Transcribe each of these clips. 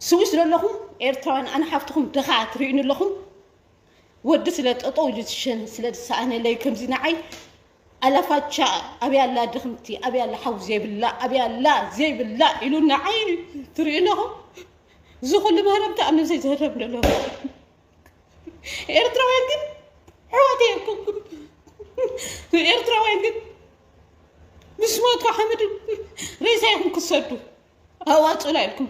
ስዊስ ዘለኹም ኤርትራውያን ኣነ ሓፍትኹም ድኻ ትርእዩኒ ኣለኹም ወዲ ስለ ጠጠው ኢሉ ዝሸን ስለ ዝሰኣነለይ ከምዚ ንዓይ ኣላፋቻ ኣብያ ኣላ ድኽምቲ ኣብያ ኣላ ሓው ዘይብላ ኣብያ ኣላ ዘይብላ ኢሉ ንዓይ ትርእዩ ኣለኹም እዚ ኩሉ ምህረምቲ ኣብ ነብሰይ ዝህረም ደሎ ኤርትራውያን ግን ሕዋት የኩም ኤርትራውያን ግን ምስ ሞትካ ሓመድ ሬሳ ይኹም ክሰዱ ኣዋፁኡላ ኢልኩም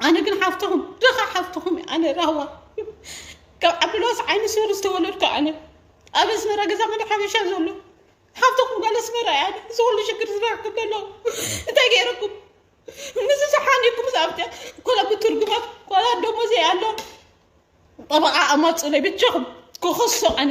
ኣነ ግን ሓፍትኹም ድኻ ሓፍትኹም ኣነ ራህዋ ካብ ዓብዱልዋስ ዓይኒ ስውር ዝተወለድኩ ኣነ ኣብ ኣስመራ ገዛ መደ ሓበሻ ዘሎ ሓፍትኹም ጓል ኣስመራ እያ እዚ ኩሉ ሽግር ዝበረኩም ዘሎ እንታይ ገይረኩም ምስ ዝሓኒኩም ኣብተ ኮላ ብትርጉማት ኮላ ደሞዘ ኣሎ ጠበቃ ኣማፁለይ ብቻኹም ክኸሶ ኣነ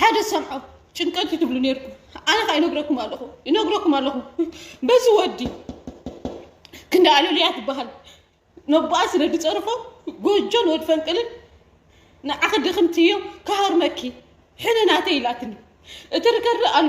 ሓደ ዝሰምዖ ጭንቀት እዩ ትብሉ ነርኩም ኣነ ከዓ ይነግረኩም ኣለኹ ይነግረኩም ኣለኹ በዚ ወዲ ክንዲ ኣለሉያ ትበሃል ነቦኣ ስለ ዝፀርፎ ጎጆን ወድ ፈንቅልን ንዓኺ ድኽምቲ እዮም ክሃርመኪ ሕነ ናተይ ኢላትኒ እቲ ርከሪ ኣሎ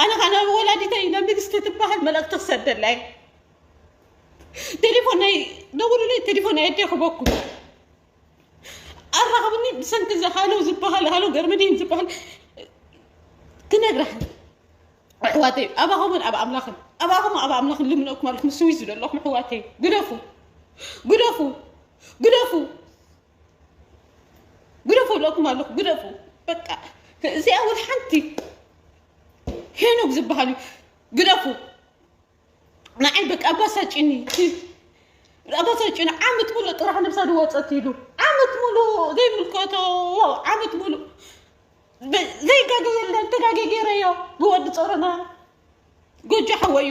ኣነ ከዓ ናብ ወላዲተይ ናብ ንግስቲ ትበሃል መልእኽቲ ክሰደላ እየ ቴሌፎን ናይ ደውሉለይ ቴሌፎን ናይ ኣዴ ክበኩም ኣራኽብኒ ብሰንኪ እዚ ሃሎ ዝበሃል ሃሎ ገርመዲን ዝበሃል ክነግረኽን ኣሕዋተይ ኣባኹምን ኣብ ኣምላኽን ኣባኹም ኣብ ኣምላኽን ልምነኩም ኣለኹም ስዊዝ ዘለኹም ኣሕዋተይ ግደፉ ግደፉ ግደፉ ግደፉ እብለኩም ኣለኹ ግደፉ በቃ እዚኣ እውን ሓንቲ ሄኖክ ዝበሃል እዩ ግደፉ ንዓይ በቃ ኣባሳጭኒ ኣባሳጭኒ ዓመት ሙሉ ጥራሕ ነብሳ ድወፀት ኢሉ ዓመት ሙሉ ዘይምልከቶ ዓመት ሙሉ ዘይጋገ የለን ተጋገ ገይረዮ ብወዲ ፀሮና ጎጆ ሓወዩ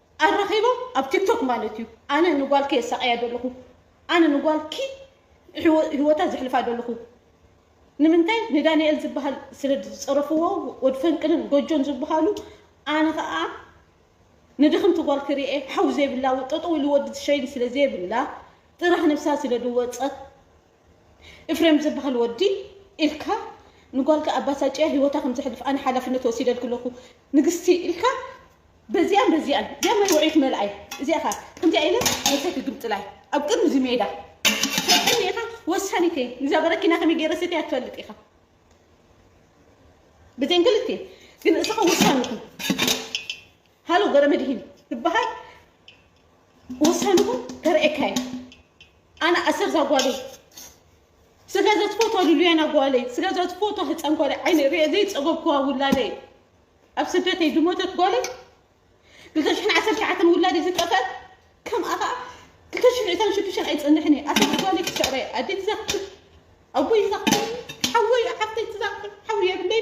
ኣራኺቦም ኣብ ቲክቶክ ማለት እዩ ኣነ ንጓልኪ የሳቐያ ደለኹ ኣነ ንጓልኪ ህይወታ ዘሕልፋ ደለኹ ንምንታይ ንዳንኤል ዝበሃል ስለ ዝፀረፍዎ ወድ ፈንቅልን ጎጆን ዝበሃሉ ኣነ ከዓ ንድኽምቲ ጓል ክርኤ ሓው ዘይብላ ጠጠው ኢሉ ወዲ ትሸይን ስለ ዘይብላ ጥራሕ ነብሳ ስለ ድወፀት እፍሬም ዝብሃል ወዲ ኢልካ ንጓልካ ኣባሳጭያ ሂወታ ከም ዘሕልፍ ኣነ ሓላፍነት ወሲደልኪ ኣለኩ ንግስቲ ኢልካ በዚኣን በዚኣን እዚኣ ማይ ውዕይ ክመልኣ እዩ እዚኣ ከ ከምዚኣ ኢለ ነብሰይ ክግምጥላይ ኣብ ቅድሚ እዚ ሜዳ ትሕኒ ኢኻ ወሳኒት እየ እዛ በረኪና ከመይ ገይረ ሰትያ ትፈልጥ ኢኻ ብዘን ክልቴ ግን እስኻ ወሳኒት ሃሎ ገረመድሂን ዝበሃል ወሳንኹም ከርእየካ እየ ኣነ ኣሰር ዛጓለይ ስለ ዘትፎቶ ልሉያን ኣጓለይ ስለ ዘትፎቶ ህፃን ጓለይ ዓይነ ርየ ዘይፀገብኩዋ ውላደይ ኣብ ስደተይ ዝሞተት ጓለይ ክልተ ሽሕን ዓሰርተ ሸዓተን ውላደይ ዝጠፈት ከምኣ ከዓ ክልተ ሽሕን ዕስራን ሽዱሽተን ኣይፅንሕን እየ ኣሰር ጓለይ ክስዕረ ኣደይ ትዛክር ኣቦይ ይዛክር ሓወይ ሓፍተይ ትዛክር ሓውሪ የብለይ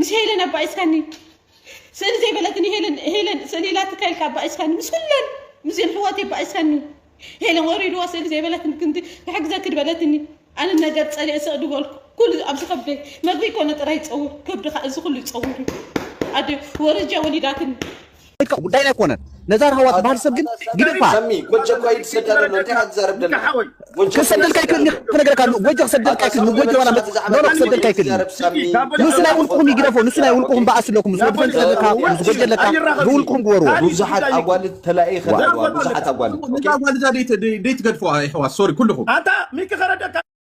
ምስ ሄለን ኣባኢስካኒ ስእሊ ዘይበለትኒ ሄለን ሄለን ስእሊ ኢላ ትካይልካ ኣባኢስካኒ ምስ ኩለን ምስን ሕወት ኣባኢስካኒ ሄለን ወሪድዋ ስእሊ ዘይበለትኒ ክንዲ ክሕግዘኪ ድበለትኒ ኣነ ነገር ጸሊአ ስቕ ድበልኩ ኩሉ ኣብዚ ከብደይ መግቢ ኮነ ጥራይ ይጸውር ከብድኻ እዚ ኩሉ ይጸውር እዩ ኣደ ወረጃ ወሊዳትኒ ደቅካ ጉዳይና ኣይኮነን ነዛ ራህዋ ትባሃል ሰብ ግን ግድእፋ ሰሚ ጎጀ እኳ ይትሰዳ ደሎ እንታይ ኢኻ ትዛረብ ደለኻ ጎጀ ክሰደልካ ኣይክእልኒ ክነገረካ ኣለዎ ጎጀ ክሰደልካ ኣይክእልኒ ጎጀ ዋላ መጽ ኖኖ ክሰደልካ ኣይክእልኒ ንሱ ናይ ውልቅኹም ይግደፎ ንሱ ናይ ውልቅኹም በኣስ ኣለኩም ምስ ወዲ ፈንቅል ኣለካ ምስ ጎጀ ኣለካ ብውልቅኹም ግበርዎ ብዙሓት ኣጓልት ተላኢኸ ደለዋ ብዙሓት ኣጓልት እዛ ጓል እዛ ደይትገድፍዋ የሕዋት ሶሪ ኩልኹም ኣታ ሚኪ ከረደካ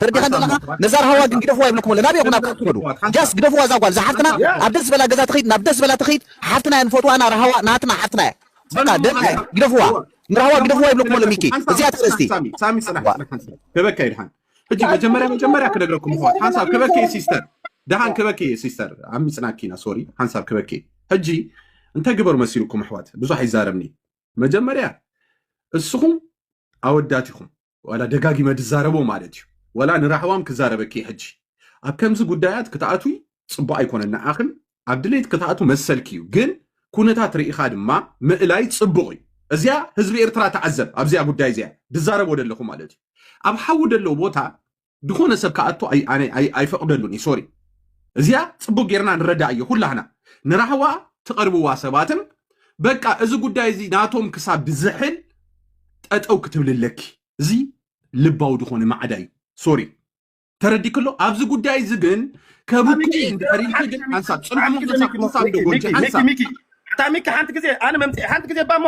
ተረዲኻን ዘለኻ ነዛ ራህዋ ግን ግደፍዋ ይብለኩም ኣሎ ናበይ ኢኹም ናብኣ ትኸዱ ጃስ ግደፍዋ እዛ ጓል እዛ ሓፍትና ኣብ ደስ ዝበላ ገዛ ትኺድ ናብ ደስ ዝበላ ትኺድ ሓፍትና እያ ንፈትዋና ራህዋ ናትና ሓፍትና እያ በቃ ደና እያ ግደፍዋ ንራህዋ ግደፍዋ ይብለኩም ኣሎ ሚኪ እዚኣ ተርእስቲ ሳሚ ሳሚ ጽናሕ ጽናሕ ሓንሳብ ክበካ እዩ ድሓን ሕጂ መጀመርያ መጀመርያ ክነግረኩም ምኽዋት ሓንሳብ ክበኪ እዩ ሲስተር ድሓን ክበኪ እዩ ሲስተር ዓሚጽናኪ ኢና ሶሪ ሓንሳብ ክበኪ እዩ ሕጂ እንታይ ግበሩ መሲልኩም ኣሕዋት ብዙሕ ኣይዛረብኒ መጀመርያ እስኹም ኣወዳት ኢኹም ዋላ ደጋጊመ ድዛረቦ ማለት እዩ ዋላ ንራህዋም ክዛረበኪ እየ ሕጂ ኣብ ከምዚ ጉዳያት ክትኣትዊ ፅቡቅ ኣይኮነን ንዓኽን ኣብ ድሌት ክትኣትው መሰልኪ እዩ ግን ኩነታት ርኢኻ ድማ ምእላይ ፅቡቅ እዩ እዚያ ህዝቢ ኤርትራ ተዓዘብ ኣብዚያ ጉዳይ እዚያ ድዛረቦ ደለኹ ማለት እዩ ኣብ ሓዊ ደለዎ ቦታ ዝኾነ ሰብ ክኣቱ ኣይፈቕደሉን እዩ ሶሪ እዚኣ ፅቡቅ ጌርና ንረዳእዮ ኩላህና ንራህዋ ትቐርብዋ ሰባትን በቃ እዚ ጉዳይ እዚ ናቶም ክሳብ ዝሕል ጠጠው ክትብል ኣለኪ እዚ ልባዊ ዝኾነ ማዕዳ እዩ ሶሪ ተረዲክሎ ኣብዚ ጉዳይ እዚ ግን ከብኪ እንድሕር ኢልኪ ግን ሓንሳብ ፅንሑ ምክንሳብ ክሳብ ደጎንጂ ሓንሳብ ሚኪ ሓንቲ ግዜ ኣነ መምፅኢ ሓንቲ ግዜ ባሞ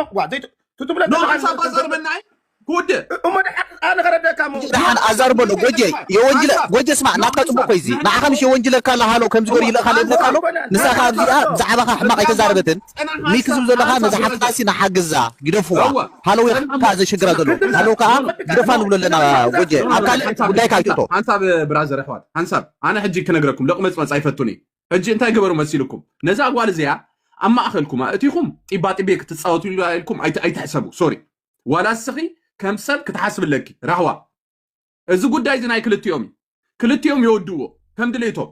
ትትብለ ሓንሳብ ባዛር መናይ ክውድእ እሞ ድሓን ኣነ ከረደካ እሞ ሕጂ ድሓን ኣዛር በሎ ጎጀ የወንጅለ ጎጀ ስማዕ ናትካ ጽቡቅ ኮይዚ ንዓኻ ምሽ የወንጅለካ ኣሎ ሃሎ ከምዚ ገሩ ይልእኻ ኣሎ ይብለካ ኣሎ ንሳኻ ኣብዚኣ ብዛዕባኻ ሕማቅ ኣይተዛረበትን ሚኪ ዝብ ዘሎኻ ነዛ ሓፍትናሲ ንሓግዛ ግደፍዋ ሃሎ ወይ ከኣ ዘሽግራ ዘሎ ሃሎ ከኣ ግደፋ ንብሎ ኣለና ጎጀ ኣብ ካልእ ጉዳይካ ኣይትእቶ ሓንሳብ ብራዘር ኣሕዋት ሓንሳብ ኣነ ሕጂ ክነግረኩም ለቅመጽመጽ ኣይፈቱን እዩ ሕጂ እንታይ ገበሩ መሲልኩም ነዛ ጓል እዚኣ ኣብ ማእኸልኩም ኣእቲኹም ጢባጢቤ ክትጻወቱ ኢልኩም ኣይት- ኣይትሕሰቡ ሶሪ ዋላ እስኺ ከም ሰብ ክትሓስብ ኣለኪ ራህዋ እዚ ጉዳይ እዚ ናይ ክልቲኦም እዩ ክልቲኦም የወድዎ ከም ድሌቶም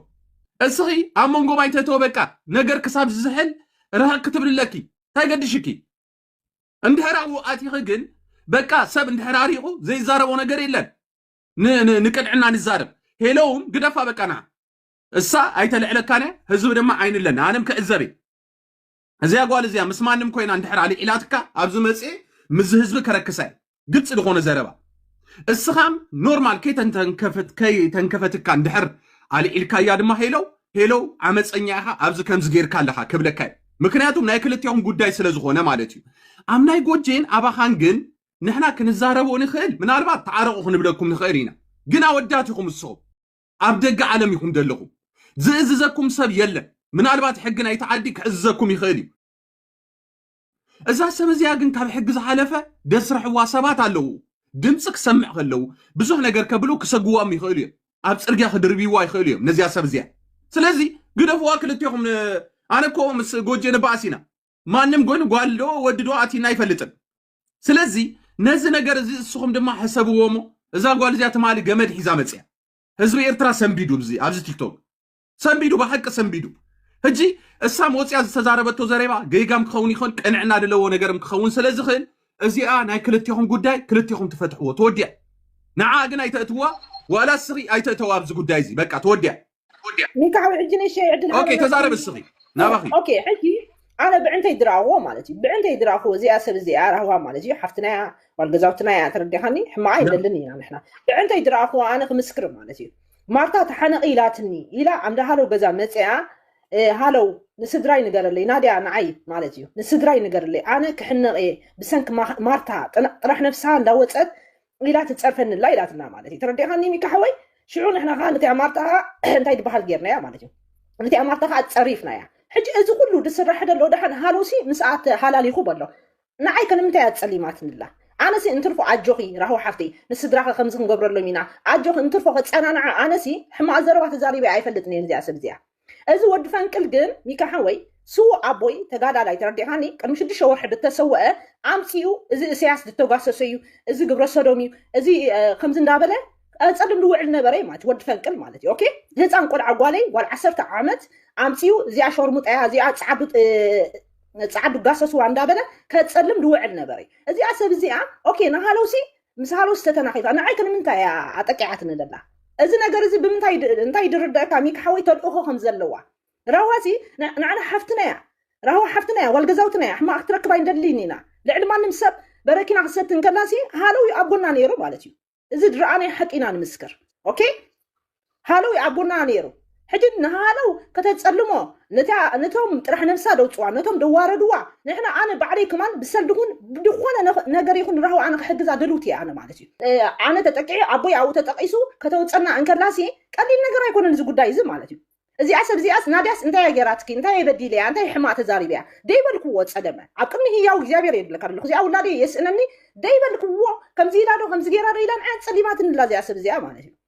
እስኺ ኣብ መንጎ ባይተተወ በቃ ነገር ክሳብ ዝዝሕል ርህቅ ክትብል ኣለኪ እንታይ ገድሽኪ እንድሕር ኣብኡ ኣቲኺ ግን በቃ ሰብ እንድሕር ኣሪቑ ዘይዛረቦ ነገር የለን ንቅንዕና ንዛረብ ሄለውም ግደፋ በቃ ንዓ እሳ ኣይተልዕለካን ህዝቢ ድማ ዓይንለን ኣነም ክዕዘብ እዚኣ ጓል እዚኣ ምስ ማንም ኮይና እንድሕር ኣልዒላትካ ኣብዚ መፅኤ ምስዚ ህዝቢ ከረክሳ እዩ ግልፂ ዝኾነ ዘረባ እስኻም ኖርማል ከይተንከፈት- ከይተንከፈትካ እንድሕር ኣልዒልካያ ድማ ሄለው ሄለው ዓመፀኛ ኢኻ ኣብዚ ከምዚ ጌርካ ኣለኻ ክብለካ እዩ ምክንያቱም ናይ ክልቲኦም ጉዳይ ስለ ዝኾነ ማለት እዩ ኣብ ናይ ጎጄን ኣባኻን ግን ንሕና ክንዛረቦ ንኽእል ምናልባት ተዓረቑ ክንብለኩም ንኽእል ኢና ግን ኣወዳት ኢኹም ንስኹም ኣብ ደገ ዓለም ኢኹም ደለኹም። ዝእዝዘኩም ሰብ የለን። ምናልባት ሕጊ ናይቲ ዓዲ ክዕዝዘኩም ይኽእል እዩ። እዛ ሰብ እዚኣ ግን ካብ ሕጊ ዝሓለፈ ደስርሕዋ ሰባት ኣለዉ። ድምፂ ክሰምዕ ከለዉ ብዙሕ ነገር ከብሉ ክሰግዎም ይኽእሉ እዮም። ኣብ ፅርግያ ክድርብይዋ ይኽእሉ እዮም ነዚኣ ሰብ እዚኣ። ስለዚ ግደፍዋ ክልቴኹም። ኣነ እኮ ምስ ጎጄ ንበኣስ ኢና። ማንም ጎይኑ ጓል ዶ ወዲ ዶ ኣቲና ኣይፈልጥን። ስለዚ ነዚ ነገር እዚ እስኹም ድማ ሕሰብዎ እሞ እዛ ጓል እዚኣ ትማሊ ገመድ ሒዛ መፅያ ህዝቢ ኤርትራ ሰንቢዱ እዚ ኣብዚ ቲክቶክ ሰንቢዱ ብሓቂ ሰንቢዱ ሕጂ እሳም ወፅያ ዝተዛረበቶ ዘረባ ገይጋም ክኸውን ይኽእል ቅንዕና ድለዎ ነገርም ክኸውን ስለ ዝኽእል እዚኣ ናይ ክልቴኹም ጉዳይ ክልቴኹም ትፈትሕዎ ተወዲያ ንዓ ግን ኣይተእትዋ ዋላ ስኺ ኣይተእተዋ ኣብዚ ጉዳይ እዚ በቃ ተወዲያ ወዲኣ ኒካዕ ወይ ሕጂ ንእሸይ ዕድል ኦኬ ሃበና ተዛረብ እስኪ እስኺ እ፣ ናባኺ ኦኬ ሕጂ ኣነ ብዕንተይ ድራኽዎ ማለት እዩ ብዕንተይ ድራኽዎ እዚኣ ሰብ እዚኣ ራህዋ ማለት እዩ ሓፍትና እያ ጓል ገዛውትና እያ ተረዲኻኒ ሕማቕ ኣይንደልን ኢና ንሕና ብዕንተይ ድራኽዎ ኣነ ክምስክር ማለት እዩ ማርታ ተሓነቒ ኢላትኒ ኢላ ኣንዳ ሃለው ገዛ መፅኣ እ፣ ሃለው ንስድራይ ንገረለይ ናድያ ንዓይ ማለት እዩ ንስድራይ ንገረለይ ኣነ ክሕነቕ እየ ብሰንኪ ማ- ማርታ ጥና- ጥራሕ ነፍስሃ እንዳወፀት ኢላ ትጸርፈኒ ኣላ ኢላትና ማለት እዩ ተረዲኻኒ ሚካ ሓወይ ሽዑ ንሕና ከዓ ነቲኣ ማርታ ከዓ እንታይ ድበሃል ጌርናያ ማለት እዩ ነቲኣ ማርታ ከዓ ጸሪፍናያ ሕጂ እዚ ኩሉ ድስራሕ ደሎ ደሓን ሃሎሲ ምስኣ ተሃላሊኹ በሎ ንዓይ ከንምንታይ እያ ጸሊማትንላ ኣነሲ እንትርፎ ኣጆኺ ራህዋ ሓፍተይ ንስድራኸ ከምዚ ክንገብረሎም ኢና ኣጆኺ እንትርፎ ከጸናንዓ ኣነሲ ሕማቕ ዘረባ ተዛሪበ ኣይፈልጥን እየ እዚኣ ሰብ እዚኣ እዚ ወዲ ፈንቅል ግን ሚኪ ሓወይ ስዉእ ኣቦይ ተጋዳላይ ተረዲእኻኒ ቅድሚ ሽዱሽተ ወርሒ ድተሰወኣ ኣምጺኡ እዚ እሰያስ ድተጓሰሶ እዩ እዚ ግብረ ሰዶም እዩ እዚ ከምዚ እንዳበለ ጸልም ድውዕል ነበረ እዩ ማለት ወዲ ፈንቅል ማለት እዩ ኦኬ ህፃን ቆልዓ ጓለይ ጓል ዓሰርተ ዓመት ኣምጺኡ እዚኣ ሸርሙጣያ እዚኣ ጻዓዱ ጻዓዱ ጋሰስዋ እንዳበለ ከጸልም ድውዕል ነበረ እዩ እዚኣ ሰብ እዚኣ ኦኬ ንሃለውሲ ምስ ሃሎስተ ተናኺፋ ንዓይ ከ ንምንታይ እያ ኣጠቂዓትኒ ዘላ? እዚ ነገር እዚ ብምንታይ ይድ- እንታይ ይድርደእካ ሚኪ ሓወይ ተልእኾ ከም ዘለዋ ራህዋ ሲ ን- ንዓና ሓፍትና እያ ራህዋ ሓፍትና እያ ጓል ገዛውትና እያ ሕማቕ ክትረክብ ኣይንደልይን ኢና ልዕሊ ማንም ሰብ በረኪና ክትሰቲ እንከላ ሲ ሃለው እዩ ኣብ ጎና ነይሩ ማለት እዩ እዚ ድረኣናዮ ሓቂ ኢና ንምስክር ኦኬ ሃለው ኣብ ጎና ነይሩ ሕጂ ንሃለው ከተጸልሞ ነታ ነቶም ጥራሕ ነብሳ ደውጽዋ ነቶም ደዋረድዋ ንሕና ኣነ ባዕለይ ከማን ብሰልዲ ይኹን ብድኾነ ነገር ይኹን ንራህዋ ኣነ ክሕግዛ ድልውቲ እየ ኣነ ማለት እዩ ኣነ ተጠቂዑ ኣቦይ ኣብኡ ተጠቂሱ ከተውጸና እንከላሲ ቀሊል ነገር ኣይኮነን እዚ ጉዳይ እዚ ማለት እዩ እዚኣ ሰብ እዚኣስ ናድያስ እንታይ እያ ጌራትኪ እንታይ እየ በዲለያ እንታይ ሕማቅ ተዛሪበያ ደይበልክዎ ጸገመ ኣብ ቅድሚ ህያው እግዚኣብሔር እየ ድብለካ ደለኹ እዚኣ ውላደይ የስእነኒ ደይበልክዎ ከምዚ ኢላዶ ከምዚ ጌራዶ ኢላ ንዓያ ጸሊማትንላ እዚኣ ሰብ እዚኣ ማለት እዩ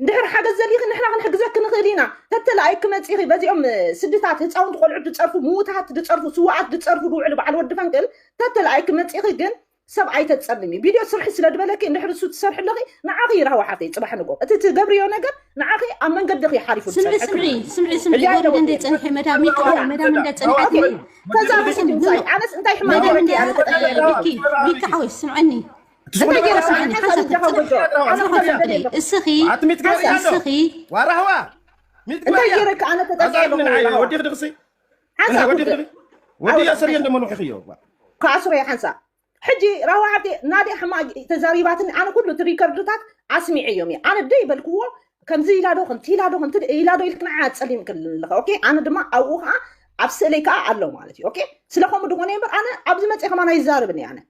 እንድሕር ሓገዝ ዘልይኺ ንሕና ክንሕግዘኪ ንኽእል ኢና ተተላኣይ ክመጺኺ በዚኦም ስድታት ህፃውንቲ ቆልዑት ድፀርፉ ምውታት ድፀርፉ ስዋኣት ድፀርፉ ድውዕሉ በዓል ወዲ ፈንቅል ተተላኣይ ክመጺኺ ግን ሰብ ኣይተፀልሚ ቪድዮ ስርሒ ስለ ድበለኪ እንድሕር እሱ ትሰርሒ ኣለኺ ንዓኺ ይራህዋ ሓፍተይ ፅባሕ ንጎ እቲ ትገብርዮ ነገር ንዓኺ ኣብ መንገድኺ ሓሪፉ ስምዒ ዝፀንሐ ስምዒ ክብሪ ስምዒ ስምዒ ሕያይ ጎሪደ እንደ ለወጢ ፀንሐ መዳም ይክ ያ መዳም እንደ ፀንሐት ተዛብሒ ድምፃይ ኣነስ እንታይ ሕማቅ መዳም ገይረኪ እንደ ኣነ ተጠቂዐ ቢኪ ቢኪ ሓወይ ስምዐኒ ክኣስሮ እየ ሓንሳ ሕጂ ራዋ ዓዲ ናደ ሕማ ተዛሪባትኒ ኣነ ኩሉ እቲ ሪከርድታት ኣስሚዐ እዮም እየ ኣነ ደይ በልክዎ ከምዚ ኢላዶ ከምቲ ኢላዶ ከምቲ ኢላዶ ኢልክ ንዓ ፀሊም ክልለኸ ኦኬ ኣነ ድማ ኣብኡ ከዓ ኣብ ስእለይ ከዓ ኣሎ ማለት እዩ ኦኬ ስለከምኡ ድኾነ እምበር ኣነ ኣብዚ መፅእ ከማን ኣይዛርብን እየ ኣነ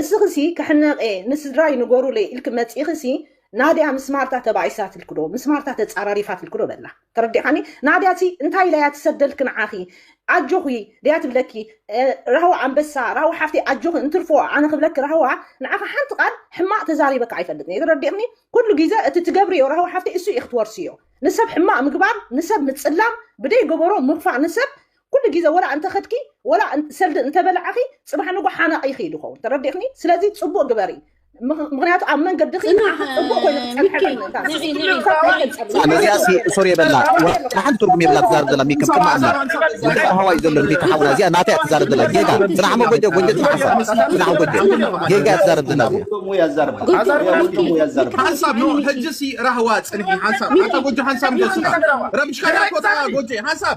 እስኽሲ ክሕነቅየ ንስድራይ ንገሩለይ ኢልኪ መጺእኽሲ ናድያ ምስ ማርታ ተባኢሳትልኪ ዶ ምስ ማርታ ተጻራሪፋትልኪ ዶ በላ ተረዲእኻኒ ናድያሲ እንታይ ኢላያ ትሰደልኪ ንዓኺ ኣጆኺ ድያ ትብለኪ ራህዋ ኣንበሳ ራህዋ ሓፍተይ ኣጆኺ እንትርፎ ኣነ ክብለኪ ራህዋ ንዓኺ ሓንቲ ቃል ሕማቅ ተዛሪበኪ ኣይፈልጥን እየ ተረዲእኽኒ ኩሉ ግዜ እቲ ትገብርዮ ራህዋ ሓፍተይ እሱ ኢኺ ትወርስዮ ንሰብ ሕማቅ ምግባር ንሰብ ምጽላም ብደይ ገበሮ ምኽፋእ ንሰብ ኩሉ ግዜ ወላ እንተኸድኪ ወላ ሰልዲ እንተበላዕኺ ፅባሕ ንጉ ሓናቕ ኢኺ ድኸውን ተረዲእኽኒ ስለዚ ፅቡቅ ግበሪ ምክንያቱ ኣብ መንገድኺ ፅቡቅ ኮይኑ ክፀንሐነዚኣሲ ሶር የበላ ንሓንቲ ትርጉም የብላ ትዛረብ ዘላ ሚከም ቅማ ኣላ ጉዳይ ሃዋ እዩ ዘሎ ንቤት ሓውና እዚኣ ናተይ ትዛረብ ዘላ ጌጋ ዝናሓሞ ጎጀ ጎጀ ዝናሓሳ ዝናሓ ጎጀ ጌጋ ትዛረብ ዘላ ሓንሳብ ኖ ሕጅሲ ራህዋ ፅንሒ ሓንሳብ ኣታ ጎጀ ሓንሳብ ንደስኻ ረብሽካ ጎጀ ሓንሳብ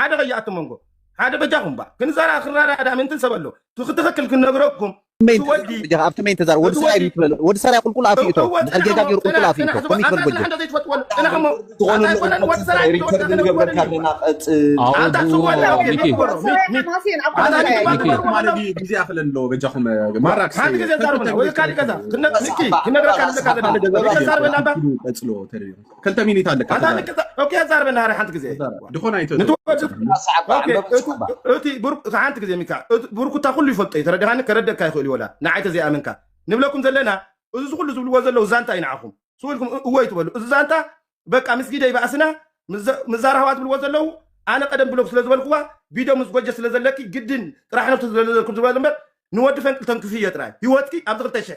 ሓደ ከይኣቱ መንጎ ሓደ በጃኹም ባ ክንዛራ ክራራ ዳ ምንትን ሰብ ኣሎ ትክትክክል ክነግረኩም ኣብቲ መይን ተዛር ወዲ ሰራይ ይትበል ወዲ ሰራይ ቁልቁል ኣፍ ይእቶ ድሕር ጌጋ ገይሩ ቁልቁል ኣፍ ይእቶ ከምይ ትበል ጎጆ ግዜ ኣክለ ኣለዎ በጃኹም ማራክሓንቲ ግዜ ዛርብና ወይ ካሊእ ገዛ ክነግረካ ንዘካ ዘለና ገዛ ተዛርበና ባ ቀፅሎ ተሪሩ ክልተ ሚኒት ኣለካ ኣታ ተዛረብ ንቅዛ ኦኬ ዛርበ ናሃሪ ሓንቲ ግዜ ተዛረብ ድኾና ይቶ ንትወ ኣሰዓባ ኦኬ ዕምበብ እቲ ኣሰዓባ እቲ ብር ሓንቲ ግዜ ሚካ እቲ ብርኩታ ኩሉ ይፈልጦ እዩ ተረዲኻኒ ከረደካ ይኽእል እዩ ወላ ንዓይ ተዘይኣመንካ ንብለኩም ዘለና እዚ ዝኩሉ ዝብልዎ ዘለዉ ዛንታ እዩ ንዓኹም ስው ኢልኩም እ- እወ ይትበሉ እዚ ዛንታ በቃ ምስ ጊደ ይባእስና ምስ ዘ- ምስ ዛራህዋ ዝብልዎ ዘለዉ ኣነ ቀደም ብሎክ ስለ ዝበልኩዋ ቢዶ ምስ ጎጀ ስለ ዘለኪ ግድን ጥራሕ ነብቲ ስለዘለኩም ዝበለ እምበር ንወዲ ፈንቅል ተንክፍዮ ጥራይ ህይወትኪ ኣብዚ ክልተ ሽሕ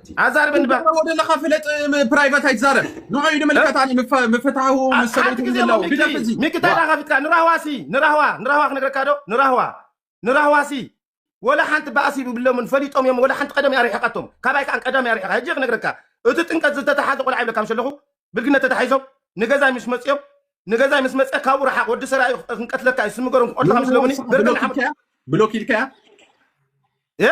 ኣዛርበኒ ባ ትዛረቦ ዘለኻ ፍለጥ ም- ፕራይቫት ኣይትዛረብ ንዑ እዩ ንምልከት ኣነ ምፈ- ምፍትሓዊ ኣ- ምስ ሓንቲ ሰበይቲ ግዜ ምህላው ሞ ግደፍ ሚኪ እዚ ሚኪ እንታይ ዋ ደኣ ከፊትካ ንራህዋሲ ንራህዋ ንራህዋ ክነግረካ ዶ ንራህዋ ንራህዋሲ ወላ ሓንቲ ባእሲ ብብሎምን ፈሊጦም እዮም ወላ ሓንቲ ቀደም እያ ርሒቓቶም ካባይ ከዓ ቀደም እያ ርሒቓ ሕጂ እየ ክነግረካ እቲ ጥምቀት ዝተተሓዘ ቆልዓ ይብለካ ምስ ኣለኹ ብልግነት ተታሒዞም ንገዛይ ምስ መፅኦም ንገዛይ ምስ መፀ ካብኡ ረሓቕ ወዲ ሰራ እዩ ክንቀትለካ እዩ ስሚ ገሮም ክቐትለካ ምስ ንራህዋ ለሙኒ ንስኻ ብሎክ ገርገም ሓሙድ ኢልካያ ብሎክ ኢልካያ እ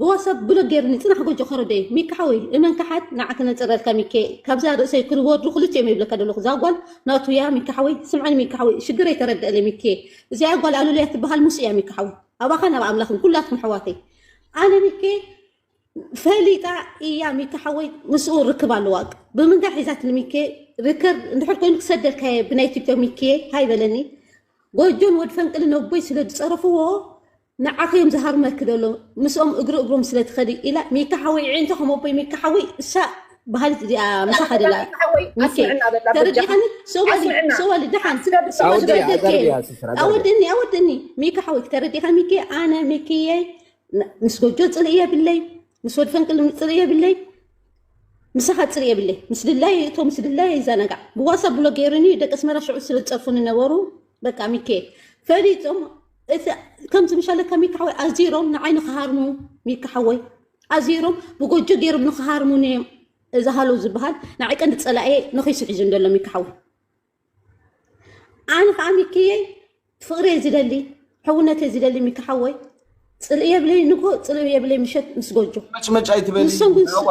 ብዋትሳብ ብሎክ ጌርኒ ጽናሕ ጎጆ ከረደይ። ሚኪ ሓወይ እመን ከሓድ ንዓ ከነጽረልካ ሚኪ ካብዛ ርእሰይ ክርወዱ ክልቲኦም ይብለካ ደለኩ እዛ ጓል ናቱ እያ ሚኪ ሓወይ ስምዐኒ ሚኪ ሓወይ ሽግረይ ተረደኣለይ ሚኪ እዚኣ ጓል ኣሉልያ ትበሃል ምስ እያ ሚኪ ሓወይ ኣባኻን ኣብ ኣምላኽን ኩላትኩም ኣሕዋተይ ኣነ ሚኪ ፈሊጣ እያ ሚኪ ሓወይ ምስኡ ርክብ ኣለዋ ብምንታይ ሒዛትኒ ሚኪ ርከር እንድሕር ኮይኑ ክሰደልካ እየ ብናይ ቲክቶክ ሚኪ ሃይ በለኒ ጎጆን ወድ ፈንቅልን ነቦይ ስለ ዝጸረፍዎ ንዓኺ እዮም ዝሃርመኪ ደለው ምስኦም እግሪ እግሮም ስለ ትኸዲ ኢላ ሚካ ሓወይ ዒዒንቶ ከም ኣቦይ ሚካ ሓወይ እሳ በሃሊት እዚኣ ምሳኻ ደላ ሚካ ሓወይ ሚኪ ኣስምዕና በላ በጃኻ ተረዲኻኒ ሰዋሊ ኣስምዕና ሰዋሊ ደሓን ስለ ብሰማ ኣውዲ ዝገደል ኣዛርብ ደኬ እያ ስስር ኣዛርብ እያ ኣወድኒ ኣወድኒ ሚካ ሓወይ ተረዲኻ ሚኪ ኣነ ሚኪየ ን- ምስ ጎጆ ፅልኢ የብለይ ምስ ወድ ፈንቅል ፅልኢ የብለይ ምሳኻ ፅሪ የብለይ ምስ ድላይ እቶ ምስ ድላይ ይዘናጋዕ ብዋሳ ብሎ ገይሩኒ ደቂ ኣስመራ ሽዑ ስለ ዝፀርፉኒ ነበሩ በቃ ሚኬ ፈሊጦም እቲ ከምዚ ምሻለካ ሚካ ሓወይ ኣዚሮም ንዓይ ንክሃርሙ ሚካ ሓወይ ኣዚሮም ብጎጆ ገይሮም ንክሃርሙ ን እዚ ሃሎ ዝበሃል ንዓይ ቀንዲ ፀላኤ ንኺሱ ሒዙ እንደሎ ሚካ ሓወይ ኣነ ከዓ ሚክየይ ፍቅሪ እየ ዝደሊ ሕውነት እየ ዝደሊ ሚካ ሓወይ ፅልእ የብለይ ንጎ ፅልእ የብለይ ምሸት ምስ ጎጆ መጭመጭ ኣይትበሊ ንሶም ግን ስ- ሃዋ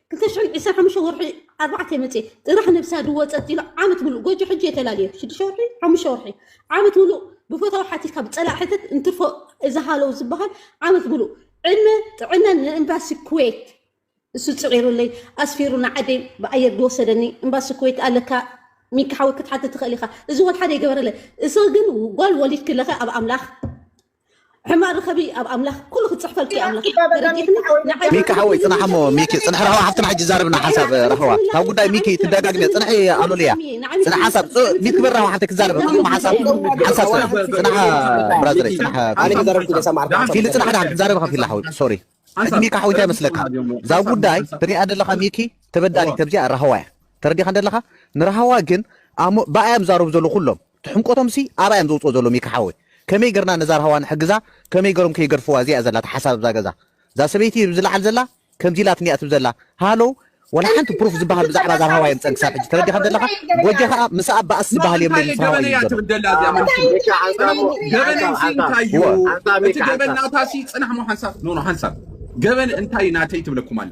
ክልተ ሽሕን ዕስራን ሓሙሽተ ወርሒ ኣርባዕተ መጽ ጥራሕ ነብሳ ድዎ ጸጥ ኢሉ ዓመት ምሉእ ጎጆ ሕጂ የተላለየ ሽዱሽተ ወርሒ ሓሙሽተ ወርሒ ዓመት ምሉእ ብፈታዊ ሓቲትካ ብጸላእ ሕተት እንትርፎ እዚ ሃለው ዝበሃል ዓመት ምሉእ ዕድመ ጥዕናን ንኤምባሲ ኩዌት እሱ ጽዒሩለይ ኣስፊሩ ንዓደይ ብኣየር ዝወሰደኒ ኤምባሲ ኩዌት ኣለካ ሚኪ ሓወይ ክትሓትት ትኽእል ኢኻ እዚ ወልሓደ ይገበረለ እሰ ግን ጓል ወሊድ ክለኸ ኣብ ኣምላኽ ሕማቅ ርኸቢ ኣብ ኣምላኽ ኩሉ ክጽሕፈልኪ ኣምላኽ ተረዲእክኒ ንዓይ ሚኪ ሓወይ ጽናሕ እሞ ሚኪ ጽንሒ ረህዋ ሓፍትና ሕጂ ዛርብና ሓንሳብ ረህዋ ካብ ጉዳይ ሚኪ ትደጋግምያ ጽንሒ ኣሉልያ ጽንሕ ሓንሳብ ሚኪ ክብር ረህዋ ሓፍተይ ክዛረብ ጽቡቅ ሓንሳብ ሓንሳብ ጽንሕ ጽንሕ ብራዘረይ ጽንሕ ኣነ ክዛረብኩ ዘሰማዕኩ ፊሊ ጽንሕ ድሓን ክዛረብ ከፊላ ሓወይ ሶሪ ሕጂ ሚኪ ሓወይ እንታይ መስለካ እዛ ጉዳይ ትሪኣ ደለካ ሚኪ ተበዳሊት ተብዚኣ ረህዋ እያ ተረዲኻ ደለኻ ንረህዋ ግን ኣሞ ብኣያ ዝዛረቡ ዘለዉ ኩሎም ትሕምቆቶም ሲ ኣባይ ኣም ዘውጽኦ ዘሎ ሚኪ ሓወይ ከመይ ገርና ነዛ ራህዋ ንሕግዛ ከመይ ገሮም ከይገድፍዋ እዚኣ እያ ዘላታ ሓሳብ ኣብዛ ገዛ እዛ ሰበይቲ እብ ዝላዓል ዘላ ከምዚ ኢላትኒ እያ ትብ ዘላ ሃሎው ወላ ሓንቲ ፕሩፍ ዝባሃል ብዛዕባ እዛ ራህዋ የምጸን ክሳብ ሕጂ ተረዲኻ ዘለኻ ጎጀ ከኣ ምሳኣ ባእሲ ዝባሃል የብለይ ምስ ራህዋ እዩ ዝገዶ። ገበን እንታይ ናተይ ትብለኩም ኣላ።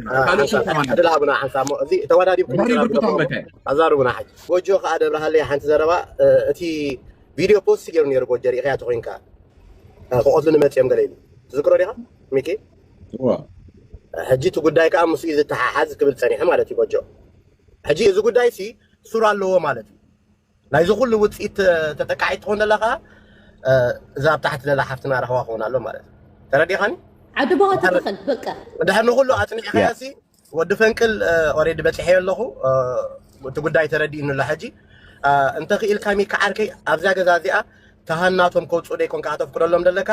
ካልእ ስም ሓንሳብ ተባሂሉ ዕድል ሃቡና ሓንሳብ እሞ እዚ ተወዳዲብኩም ድሕሪ ምዝራብ ብርኩታ ግደፍዎ እሞ መከ ኣዛርቡና ሕጂ ጎጆ ከኣ ደብርሃለይ ሓንቲ ዘረባ እ፣ እቲ ቪድዮ ፖስት ገይሩ ነይሩ ጎጆ ርኢኸያ ተኮይንካ እ፣ ክቐትሉኒ መፅኦም ገለ ኢሉ ትዝክሮ ዲኻ ሚኪ እወ ሕጂ እቲ ጉዳይ ከኣ ምስኡ እዩ ዝተሓሓዝ ክብል ፀኒሐ ማለት እዩ ጎጆ ሕጂ እዚ ጉዳይ ሲ ሱር ኣለዎ ማለት እዩ ናይዚ ኩሉ ውጽኢት ተጠቃዒት ትኾን ዘላ ከኣ እዛ ኣብ ታሕቲ ዘላ ሓፍትና ራህዋ ክኾን ኣሎ ማለት እዩ ተረዲኻኒ ዓዲ ቦኻ ትተኸል በቃ ድሕር ንኩሉ ኣጽኒዕካያሲ ወዲ ፈንቅል ኦሬዲ በፂሐዮ ኣለኹ እቲ ጉዳይ ተረዲእኒ ኣሎ ሕጂ እንተኽኢልካ ሚካ ዓርከይ ኣብዛ ገዛ እዚኣ ተሃናቶም ከውፅኡ ደይኮንካ ከተፍቅደሎም ዘለካ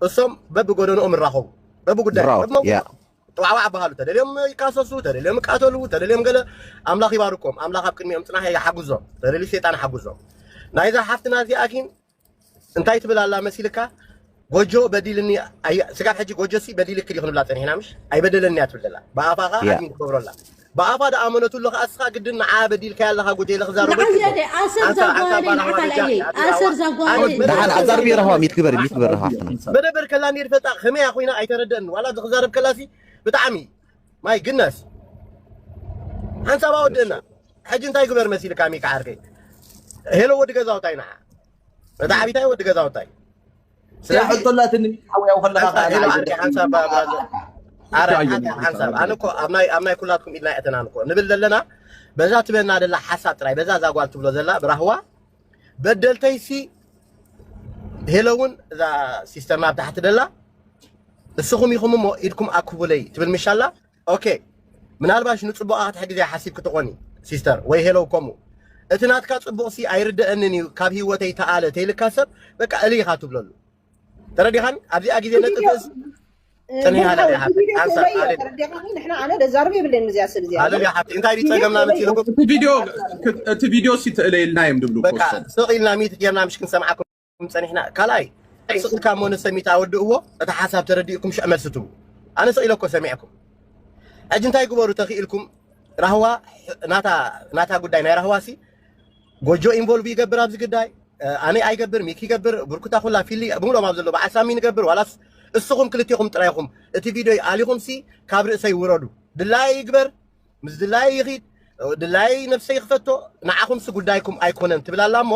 እሶም በብጎደንኦም ይራኸቡ በብጉዳይ ጥዋዕዋዕ ኣበሃሉ ተደልዮም ይካሰሱ ተደልዮም ይቃተሉ ተደልዮም ገለ ኣምላኽ ይባርኮም ኣምላኽ ኣብ ቅድሚኦም ጽናሕ ይሓግዞም ተደልዩ ሰይጣን ይሓግዞም ናይዛ ሓፍትና እዚኣ ግን እንታይ ትብል ኣላ መሲልካ ጎጆ በዲልኒ ስጋብ ሕጂ ጎጆ ሲ በዲልክ ዲ ክንብላ ፀኒሕና ምሽ ኣይበደለኒ እያ ትብል ዘላ ብኣፋኻ ዓድሚ ትገብሮ ኣላ ብኣፋ ዶ ኣመነትሉ ከኣ እስኻ ግድን ንዓኣ በዲልካያ ኣለኻ ጉጀለ ክዛረቦ ይክእል ንዓይ ዶ ኣሰር ኣንታ ኣንታ ዛጓረደይ ባራህዋ ንዓኻ በጃኺ ለየይ ኣቲ ኣሰር ራህዋ ዛጓረደይ ኣመት መደበር ደሓን ከላ ኣዛርብዮ ኔርካ ራህዋ ሚት ግበሪ ሚት ግበሪ ራህዋ ሓፍትና። ዶ መደበር ከላ ኔር ፈልጣ ከመይ እያ ኮይና ኣይተረደእኒ ዋላ ኣብዚ ክዛረብ ከላ ሲ ብጣዕሚ ማይ ግነስ ሓንሳብ ኣወድእና ሕጂ እንታይ ግበር መሲልካ ሚኪ ዓርከይ ሄሎ ወዲ ገዛውታይ ንዓ እታ ዓቢታይ ወዲ ገዛውታይ ስለዚ ሕቶ ኣላትኒ ሓወያው ከለካ ሓንሳብ ከኣ ኢሉ ንዓይ ዓርኪ ዘድሕን ሓንሳብ ኢልካ ባብራ ዘ- ኣለካ ኣረ እንታይ ሓንሳብ ኣየኒ ሓንሳብ ኣነ እኮ ኣብ ናይ ኣብ ናይ ኩላትኩም ኢድና የእተናን እኮ ንብል ዘለና በዛ ትበና ደላ ሓሳብ ጥራይ በዛ እዛ ጓል ትብሎ ዘላ ብራህዋ በደልተይሲ ሄሎ እውን እዛ ሲስተርና ኣብ ታሕቲ ደላ ንስኹም ኢኹም እሞ ኢድኩም ኣክቡለይ ትብል ምሻላ ኦኬ ምናልባሽ ንጽቡቓ ክትሕግዝ እያ ሓሲብኪ ትኾኒ ሲስተር ወይ ሄሎ ከምኡ እቲ ናትካ ጽቡቕሲ ኣይርደአንን እዩ ካብ ህይወተይ ተኣለ ተይልካ ሰብ በቃ እልይ ኢኻ ትብለሉ ተረዲኻኒ ኣብዚኣ ግዜ ነጥብ ርእሲ ቅንያለ እያ ሓፍተይ ቪድዮ ኣንሳ ተርእዮ ኣለሊ ተረዲኻኒ ንሕና ኣነ ደዛርብ የብለኒ ምዚኣ ሰብ እዚኣ ኣለሊ እያ ሓፍተይ እንታይ ድዩ ቪድዮ ጸገምና ተርእዮ መሲልኩም እቲ ቪድዮ እቲ ቪድዮ ሲ ተእለየልና እዮም ድብሉ በቃ ኮስቶም ስቕ ኢልና ሚት ጌርና ምሽ ክንሰምዓኩም ክም ፀኒሕና ካልኣይ ስቕ ኢልካ እሞ ንሰሚት ኣወድእዎ እቲ ሓሳብ ተረዲእኩም ሽዕ መልሲ ትቡ ኣነ ስቕ ኢለ እኮ ሰሚዕኩም ሕጂ እንታይ ግበሩ ተኽኢልኩም ራህዋ ናታ ጉዳይ ናይ ራህዋ ሲ ጎጆ ኢንቮልቭ ይገብር ኣብዚ ግዳይ ኣነ ኣይገብር ሚክ ይገብር ብርኩታ ኩላ ፊሊ ብምሎም ኣብ ዘሎ በዓል ሳሚ ንገብር ዋላስ እስኹም ክልቴኹም ጥራይ ኢኹም እቲ ቪድዮ ኣሊኹም ሲ ካብ ርእሰይ ውረዱ ድላየ ይግበር ምስ ድላየ ይኺድ ድላየ ነብሰይ ክፈቶ ንዓኹምሲ ጉዳይኩም ኣይኮነን ትብል ኣላ እሞ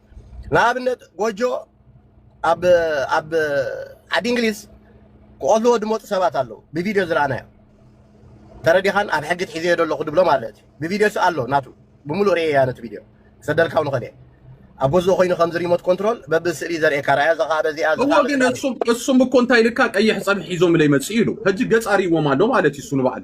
ንኣብነት ጎጆ ኣብ ኣብ ዓዲ እንግሊዝ ክቐትልዎ ድመፁ ሰባት ኣለዉ ብቪድዮ ዝረኣናዮ ተረዲኻን ኣብ ሕጊ ትሒዘዮ ዘለኹ ድብሎ ማለት እዩ ብቪድዮ ስ ኣሎ ናቱ ብምሉእ ርእየ እያ ነቲ ቪድዮ ሰደልካው ንኸእል እየ ኣብ ገዝኡ ኮይኑ ከምዚ ሪሞት ኮንትሮል በብስእሊ ዘርእየካ ራያ እዛ ከዓ በዚኣ እዚ እዎ ከዓ ግን በዚኣ እሱም እሱም እኮ እንታይ ልካ ቀይሕ ፀብሒ ሒዞም ለይመፅእ ኢሉ ሕጂ ገፅ ኣርእዎም ኣሎ ማለት እዩ እሱ ንባዕሉ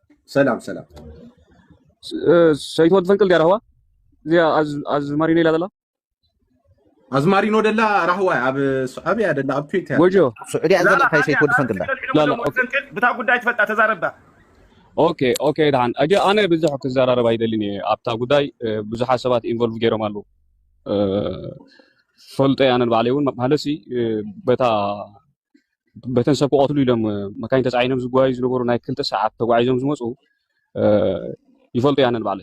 ሰላም ሰላም ሰይት ወዲ ፈንቅል ዲያ ራህዋ እዚኣ ኣዝማሪኖ ኢላ ዘላ ኣዝማሪኖ ደላ ራህዋ ኣብ ሱዓብያ ደላ ኣብ ኩዌት እያ ጎጆ ስዑድያ ዘላ ካይ ሰይት ወዲ ፈንቅል ላላ ብታ ጉዳይ ትፈልጣ ተዛረባ ኦኬ ኦኬ ድሓን ኣጀ ኣነ ብዙሕ ክዘራረብ ኣይደልን እየ ኣብታ ጉዳይ ብዙሓት ሰባት ኢንቮልቭ ገይሮም ኣለዉ ፈልጦ ኣነ ንባዕለይ እውን ማለት በታ በተን ሰብ ክቐትሉ ኢሎም መካይን ተፃዒኖም ዝጓዩ ዝነበሩ ናይ ክልተ ሰዓት ተጓዒዞም ዝመፁ ይፈልጡ እያ ነንባዕለ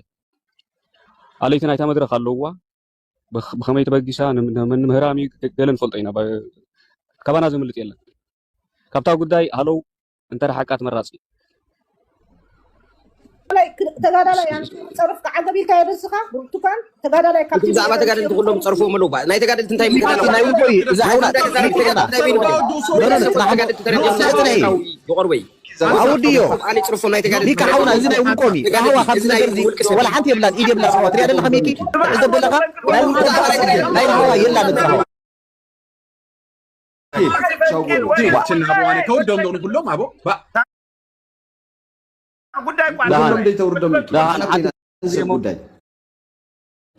ኣለይቲ ናይታ መድረክ ኣለውዋ ብከመይ ተበጊሳ ንምህራም እዩ ገለ ንፈልጦ ኢና ካባና ዘምልጥ የለን ካብታ ጉዳይ ሃለው እንተረሓቅካ ተመራፂ እዩ። ተጋዳላይ ፀርፍካ ዓገብ ኢልካዮ ደስኻ ብርቱካን ተጋዳላይ ካብቲ ብዛዕባ ተጋደልቲ ኩሎም ፀርፍዎም ኣለዉ ናይ ተጋደልቲ እንታይ ይቆርበይ ኣውድዮ ፅርፎም ናይ ተጋደልቲ ሓውና እዚ ናይ ውልቆም እዩ ራህዋ ካብዚ ነገር እዚ ወላ ሓንቲ የብላን ኢድ የብላ ስዋ ትሪኣ ደለካ ሚኪ ዕዘብ ደለካ ናይ ውልቆም ናይ ራህዋ የላን እቲ ራህዋ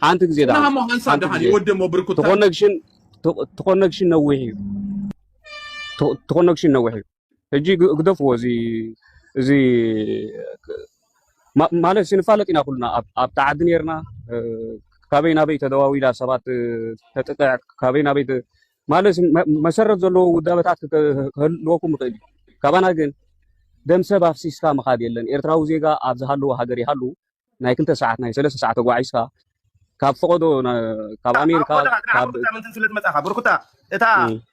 ሓንቲ ግዜ ተኮነክሽን ነዊሕ እዩ ተኮነክሽን ነዊሕ እዩ ሕጂ ግደፍዎ እዚ እዚ ማለት ንፋለጥ ኢና ኩልና ኣብቲ ዓዲ ነርና ካበይ ናበይ ተደዋዊላ ሰባት ተጥቅዕ ካበይ ናበይ ማለት መሰረት ዘለዎ ውዳበታት ክህልወኩም ይኽእል እዩ ካባና ግን ደም ሰብ ኣፍሲስካ ምኻድ የለን ኤርትራዊ ዜጋ ኣብ ዝሃለዎ ሃገር ይሃሉ ናይ ክልተ ሰዓት ናይ ሰለስተ ሰዓት ተጓዒዝካ ካብ ፈቐዶ ካብ ኣሜሪካ ምንትን ስለ ዝመፃኻ ብርኩታ እታ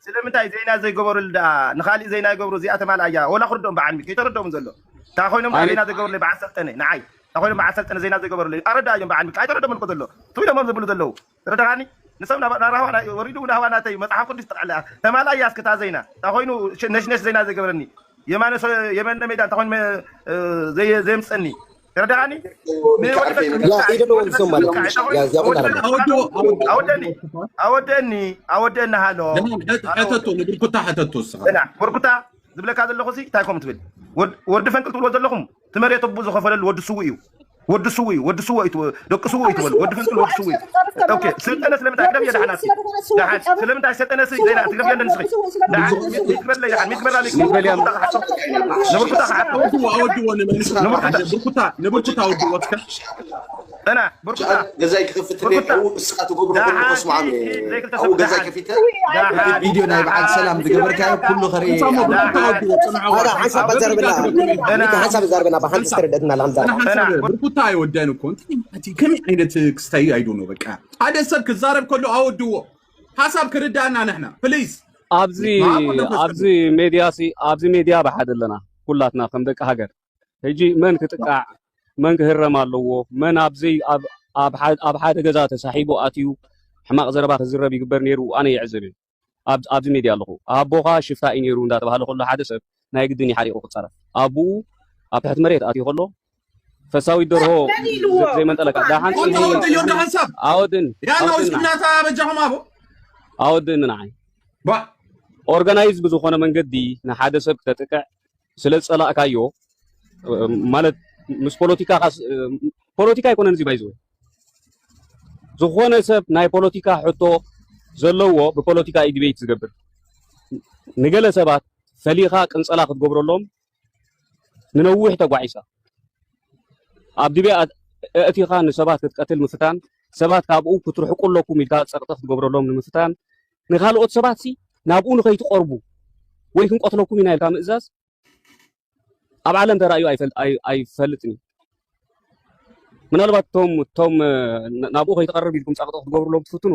ስለምንታይ ዜና ዘይገበሩሉ ደኣ ንካሊእ ዜና ይገብሩ እዚኣ ተማልኣ እያ ወላ ክርድኦም በዓል ሚኪ ይተረድኦም ዘሎ እታ ኮይኖም ዜና ዘይገበሩለ በዓል ሰልጠነ ንዓይ እታ ኮይኖም በዓል ሰልጠነ ዜና ዘይገበሩለ ኣረዳእዮም በዓል ሚኪ ኣይተረድኦምን እኮ ዘሎ ትብሎሞም ዝብሉ ዘለዉ ተረዳኻኒ ንሰብ ናብ ናራህዋ ናይ ወሪዱ ናህዋ ናተይ መጽሓፍ ቅዱስ ጠቅዕላ ተማላይ ያስ ክታ ዘይና ታኾይኑ ነሽነሽ ዘይና ዘይገብረኒ የማነ የመነ ሜዳ እንታ ኮይኑ ዘየምጸኒ ተረዳኻኒ ኣወደኒ ኣወደኒ ሃሎ ሕተቶ ንብርኩታ ሕተቶ እስኻ ብርኩታ ዝብለካ ዘለኹ ሲ እንታይ ኮም ትብል ወዲ ፈንቅል ትብሎ ዘለኹም እቲ መሬት ኣቦ ዝኸፈለሉ ወዲ ስውእ እዩ ወዲ ስውእ እዩ ወዲ ስውእ እዩ ደቂ ስውእ እዩ ትበሉ ወዲ ፍንቅል ወዲ ስውእ እዩ ኦኬ ስልጠነ ስለምንታይ ቅደም እየ ደሓናት ደሓን ስለምንታይ ስልጠነ ሲ ዘይና ትገብሪ ኣለኒ ስኺ ደሓን ሚትግበርለይ ደሓን ሚትግበርላ ሚትግበርያ ንብርኩታ ክሓቶ ንብርኩታ ንብርኩታ ወድዎ እስከ እላ ብርኩታ ገዛይ ክኸፍት ኣብኡ ንስኻ ትገብሮ ኩሉ ከስምዖም እየ ኣብኡ ገዛይ ከፊተ ቪድዮ ናይ በዓል ሰላም ዝገበርካዮ ኩሉ ከርኢ ሓንሳብ ዛርበና ብሓንቲ ዝተረደትና ብርኩታ ኣይወዳይን እኮ ከመይ ዓይነት ክስታይ ኣይዶ ነው በቃ ሓደ ሰብ ክዛረብ ከሎ ኣወድዎ ሓሳብ ክርዳእና ንሕና ፕሊዝ ኣብዚ ኣብዚ ሜድያ ሲ ኣብዚ ሜድያ ብሓደ ኣለና ኩላትና ከም ደቂ ሃገር ሕጂ መን ክጥቃዕ መን ክህረም ኣለዎ መን ኣብዘይ ኣብ ሓደ ገዛ ተሳሒቡ ኣትዩ ሕማቅ ዘረባ ክዝረብ ይግበር ኔሩ ኣነ ይዕዘብ እየ ኣብዚ ሜድያ ኣለኹ ኣቦኻ ሽፍታ እዩ ኔሩ እንዳተባህለ ከሎ ሓደ ሰብ ናይ ግድን እዩ ሓሪቁ ክጻረፍ ኣቡኡ ኣብ ትሕቲ መሬት ኣትዩ ከሎ ፈሳዊት ደርሆ ዘይመንጠለካ ዳሓን ኣወድን ኣወድን ንዓይ ኦርጋናይዝ ብዝኾነ መንገዲ ንሓደ ሰብ ክተጥቅዕ ስለ ዝጸላእካዮ ማለት ምስ ፖለቲካ ፖለቲካ ኣይኮነን እዚ ባይዘወ ዝኾነ ሰብ ናይ ፖለቲካ ሕቶ ዘለዎ ብፖለቲካ እዩ ዲቤት ዝገብር ንገለ ሰባት ፈሊኻ ቅንጸላ ክትገብረሎም ንነዊሕ ተጓዒሳ ኣብ ድቤ እእቲኻ ንሰባት ክትቀትል ምፍታን ሰባት ካብኡ ክትርሕቁ ኣለኩም ኢልካ ጸቕጢ ክትገብረሎም ንምፍታን ንኻልኦት ሰባትሲ ናብኡ ንኸይትቐርቡ ወይ ክንቀትለኩም ኢና ኢልካ ምእዛዝ ኣብ ዓለም ተራእዩ ኣይፈልጥን እዩ። ምናልባት እቶም እቶም ናብኡ ከይትቐርብ ኢልኩም ጸቕጢ ክትገብሩሎም ትፍትኑ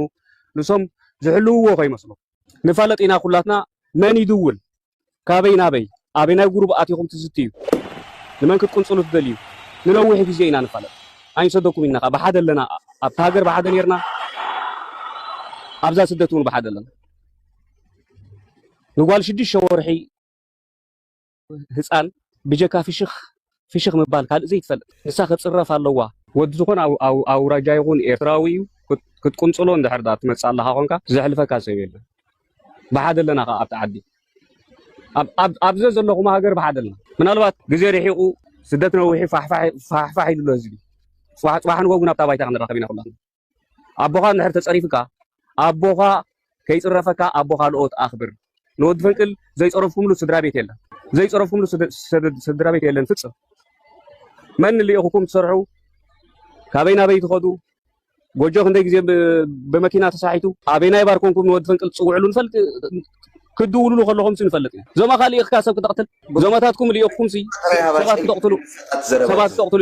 ንሶም ዝሕልውዎ ከይመስሎም ንፋለጥ ኢና ኩላትና መን ይድውል ካበይ ናበይ ኣበናይ ጉሩብ ኣቲኹም ትዝትዩ ንመን ክትቅንጽሉ ትደልዩ ንነዊሕ ግዜ ኢና ንፋለጥ ኣይንሰደኩም ኢልና ከኣ ብሓደ ኣለና ኣብቲ ሃገር ብሓደ ኔርና ኣብዛ ስደት ውን ብሓደ ኣለና ንጓል ሽዱሽተ ወርሒ ህጻን ብጀካ ፍሽኽ ፍሽኽ ምባል ካልእ ዘይትፈልጥ ንሳ ክትጽረፍ ኣለዋ። ወዲ ዝኾነ ኣውራጃ ይኹን ኤርትራዊ እዩ ክትቁንጽሎ እንድሕር ድኣ ትመጽእ ኣለኻ ኮንካ ዘሕልፈካ ሰብ የለን ብሓደ ኣለና ከኣ ኣብቲ ዓዲ ኣብ ኣብ ዘዘለኹም ሃገር ብሓደ ኣለና ምናልባት ግዜ ርሒቑ ስደት ነዊሑ ፋሕፋሕ ኢሉ ኣሎ ህዝቢ ጽባሕ ንጎጉ ናብታ ባይታ ክንራኸብ ኢና ኩላትና ኣቦኻ እንድሕር ተጸሪፉካ ኣቦኻ ከይጽረፈካ ኣቦ ካልኦት ኣኽብር ንወዲ ፈንቅል ዘይጸረፍኩምሉ ስድራቤት የለን ዘይጸረፍኩምሉ ስድራቤት የለን ፍጽም መን ልኢኹኩም ትሰርሑ ካበይ ናበይ ትኸዱ ጎጆ ክንደይ ግዜ ብመኪና ተሳሒቱ ኣበናይ ባር ኮንኩም ንወዲ ፈንቅል ትጽውዕሉ ንፈልጥ ክትድውልሉ ከለኹም ሲ ንፈልጥ ኢና ዞማኻ ልኢኽካ ሰብ ክተቕትል ዞማታትኩም ልኢኽኩም ሲ ሰባት ክተቕትሉ ሰባት ክተቕትሉ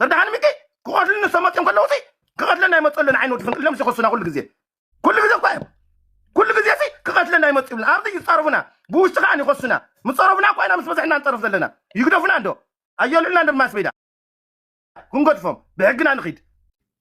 ተደሓን ሚኪ ክቐትሉ ንሰመፅኦም ከለዉ ሲ ክቐትለና ይመፁ ኣለና ዓይኒ ወዲ ፍንቅሎም ሲኸሱና ኩሉ ግዜ ኩሉ ግዜ እኳ እዮም ኩሉ ግዜ ሲ ክቐትለና ይመፁ ይብልና ኣብዚ ይፃረፉና ብውሽጢ ከዓ ይኸሱና ምፀረፉና እኳ ኢና ምስ በዝሕና ንፀርፍ ዘለና ይግደፉና እንዶ ኣየልዑልና እንዶ ማስሜዳ ክንገድፎም ብሕግና ንኺድ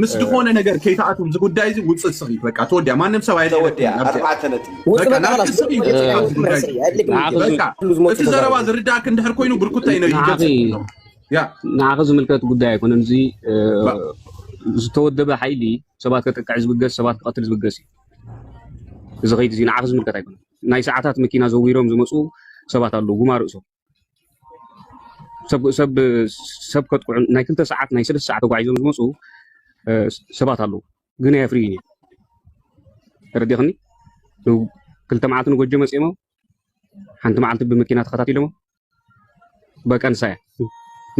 ምስ ዝኾነ ነገር ከይተኣት ዚ ጉዳይ ዚ ውፅ ስኺ ተወዲያ ማንም ሰብ እቲ ዘረባ ዝርዳእክ እንድሕር ኮይኑ ብርኩታ ዩ ንዓኺ ዝምልከት ጉዳይ ኣይኮነን እዚ ዝተወደበ ሓይሊ ሰባት ከጥቅዕ ዝብገስ ሰባት ክቐትል ዝብገስ እዩ እዚ ከይዲ እዚ ንዓኺ ዝምልከት ኣይኮነን ናይ ሰዓታት መኪና ዘዊሮም ዝመፁ ሰባት ኣለዉ ጉማ ርእሶም ሰብ ከጥቅዑ ናይ ክልተ ሰዓት ናይ ሰለስተ ሰዓት ተጓዒዞም ዝመፁ ሰባት ኣለዉ ግን ኣየፍርዩን እዮም ተረዲኽኒ ክልተ መዓልቲ ንጎጆ መፂኦሞ ሓንቲ መዓልቲ ብመኪና ተኸታቲሎሞ በቀን ሳያ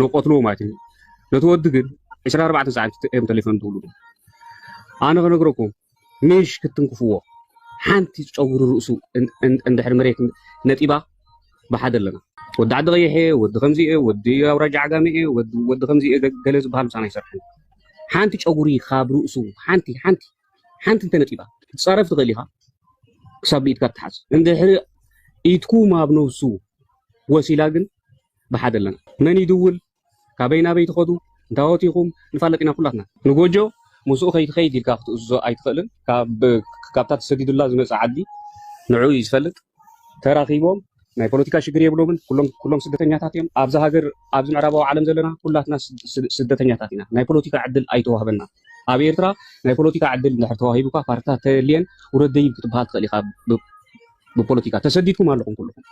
ንቆትልዎ ማለት እዩ ነቲ ወዲ ግን 24 ሰዓት እዮም ተሊፎም ትብሉ ኣነ ክነግረኩም ምሽ ክትንክፍዎ ሓንቲ ጨጉሪ ርእሱ እንድሕር መሬት ነጢባ ብሓደ ኣለና ወዲ ዓዲ ቀይሕ እየ ወዲ ከምዚ እየ ወዲ ኣውራጃ ዓጋመ እየ ወዲ ከምዚ እየ ገለ ዝበሃል ምሳና ይሰርሐን ሓንቲ ጨጉሪ ካብ ርእሱ ሓንቲ ሓንቲ ሓንቲ እንተነጢባ ክትጻረፍ ትኽእል ኢኻ ክሳብ ብኢድካ ትሓዝ እንድሕሪ ኢድኩ ማብ ነብሱ ወሲላ ግን ብሓደ ኣለና መን ይድውል ካበይ ናበይ ትኸዱ እንታዎት ኢኹም ንፋለጥ ኢና ኩላትና ንጎጆ ምስኡ ከይትኸይድ ኢልካ ክትእዝዞ ኣይትኽእልን ካብታ ተሰዲዱላ ዝመጸ ዓዲ ንዕኡ እዩ ዝፈልጥ ተራኪቦም ናይ ፖለቲካ ሽግር የብሎምን ኩሎም ስደተኛታት እዮም ኣብዚ ሃገር ኣብዚ ምዕራባዊ ዓለም ዘለና ኩላትና ስደተኛታት ኢና ናይ ፖለቲካ ዕድል ኣይተዋህበና ኣብ ኤርትራ ናይ ፖለቲካ ዕድል እንድሕር ተዋሂቡካ ፓርትታት ተልየን ውረድ ደይብ ክትበሃል ትኽእል ኢኻ ብፖለቲካ ተሰዲድኩም ኣለኹም ኩልኹም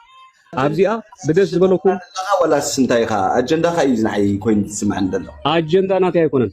ኣብዚኣ ብደስ ዝበለኩም ወላስ እንታይ ኢኻ ኣጀንዳኻ እዩ ዝንዓይ ኮይኑ ዝስምዐኒ ዘሎ ኣጀንዳ ናተይ ኣይኮነን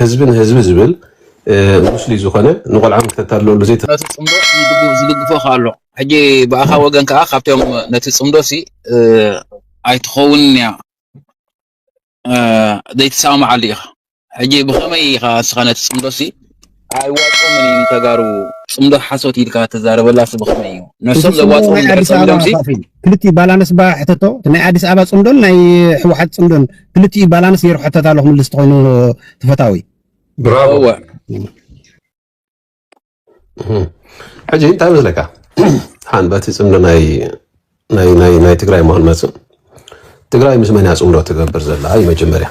ህዝቢ ንህዝቢ ዝብል ሙስሊም ዝኾነ ንቆልዓ ምተታልለሉ ዘይተ ነቲ ጽምዶ ዝድግ ዝድግፎ ከኣ ኣሎ። ሕጂ ብኣኻ ወገን ከኣ ካብቶም ነቲ ጽምዶሲ እ ኣይትኸውንን እያ እ ዘይትሰማማዓሉ ኢኻ። ሕጂ ብኸመይ ኢኻ ንስኻ ነቲ ጽምዶሲ ኣይዋጾምን እዩ ንተጋሩ ጽምዶ ሓሶት ኢልካ ትዛረበላሲ ብኸመይ እዩ? እቲ ነሶም ጽምዶ ዘዋጽኦም ናይ እንድሕር ኣዲስ ኣበባ ጸሚዶምሲ ኣኻኺ እዩ። ክልቲኡ ባላነስ እባ ሕተቶ እቲ ናይ ኣዲስ ኣበባ ጽምዶን ናይ ሕወሓት ጽምዶን ክልቲኡ ባላነስ ገይሩ ሕተት ኣሎ ክምልስ ተኮይኑ ትፈታዊ ብራቮ እወ ሕጂ እንታይ መስለካ ሓን በቲ ጽምዶ ናይ ናይ ናይ ናይ ትግራይ መሆን መጽእ ትግራይ ምስ መን እያ ጽምዶ ትገብር ዘላ እዩ መጀመርያ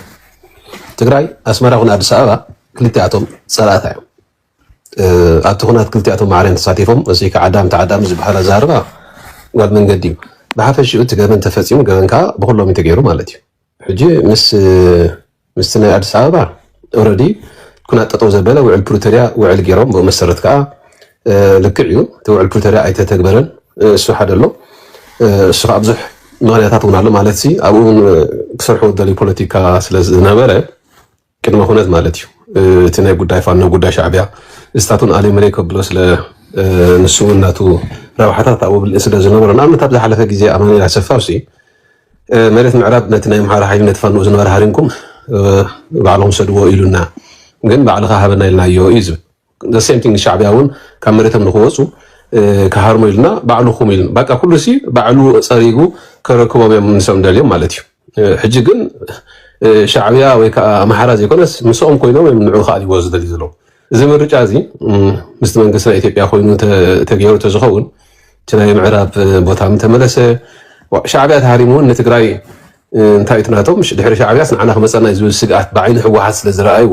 ትግራይ ኣስመራ ኹን ኣዲስ ኣበባ ክልቲኣቶም ጸላእታ እዮም ኣብቲ ኩናት ክልቲኣቶም ማዕረን ተሳቲፎም እዙይ ከዓ ኣዳም ተዓዳሚ ዝበሃል ኣዘራርባ ጓል መንገዲ እዩ። ብሓፈሽኡ እቲ ገበን ተፈፂሙ ገበን ከዓ ብኹሎም እዩ ተገይሩ ማለት እዩ። ሕጂ ምስ ምስቲ ናይ ኣዲስ ኣበባ ኦረዲ ኩናት ጠጠው ዘበለ ውዕል ፕሪቶሪያ ውዕል ገይሮም ብኡ መሰረት ከዓ ልክዕ እዩ እቲ ውዕል ፕሪቶሪያ ኣይተተግበረን እሱ ሓደ ኣሎ እሱ ከዓ ብዙሕ ምክንያታት እውን ኣሎ ማለት ኣብኡ እውን ክሰርሑ ዝደልዩ ፖለቲካ ስለዝነበረ ቅድመ ኩነት ማለት እዩ እቲ ናይ ጉዳይ ፋኖ ጉዳይ ሻዕቢያ እስታቱን ኣሌምሬ ከብሎ ስለ ንሱውን ናቱ ረብሓታት ኣብኡ ብልኢ ስለ ዝነበሮ ንኣብነት ኣብ ዝሓለፈ ግዜ ኣማኒኤል ኣሰፋውሲ መሬት ምዕራብ ነቲ ናይ ምሓራ ሓይሊ ነቲ ፋኖ ዝነበረ ሃሪምኩም ባዕልኹም ሰድዎ ኢሉና ግን ባዕልኻ ሃበና ኢልናዮ እዩ ዝብል the same thing ንሻዕብያ ውን ካብ መሬቶም ንክወፁ ክሃርሙ ኢልና ባዕሉ ኹም ኢልና ባቃ ኩሉ ሲ ባዕሉ ፀሪጉ ከረክቦም እዮም ንሶም እንደልዮም ማለት እዩ ሕጂ ግን ሻዕብያ ወይ ከዓ ኣምሓራ ዘይኮነስ ምስኦም ኮይኖም እዮም ንዑ ክኣልይዎ ዝደልዩ ዘለዉ እዚ ምርጫ እዚ ምስቲ መንግስቲ ናይ ኢትዮጵያ ኮይኑ ተገይሩ ተዝኸውን እቲ ናይ ምዕራብ ቦታ ምተመለሰ ሻዕብያ ተሃሪሙ እውን ንትግራይ እንታይ እቲ ናቶም ድሕሪ ሻዕብያስ ንዓና ክመፀና እዩ ዝብል ስግኣት ብዓይኒ ህወሓት ስለ ዝረኣይዎ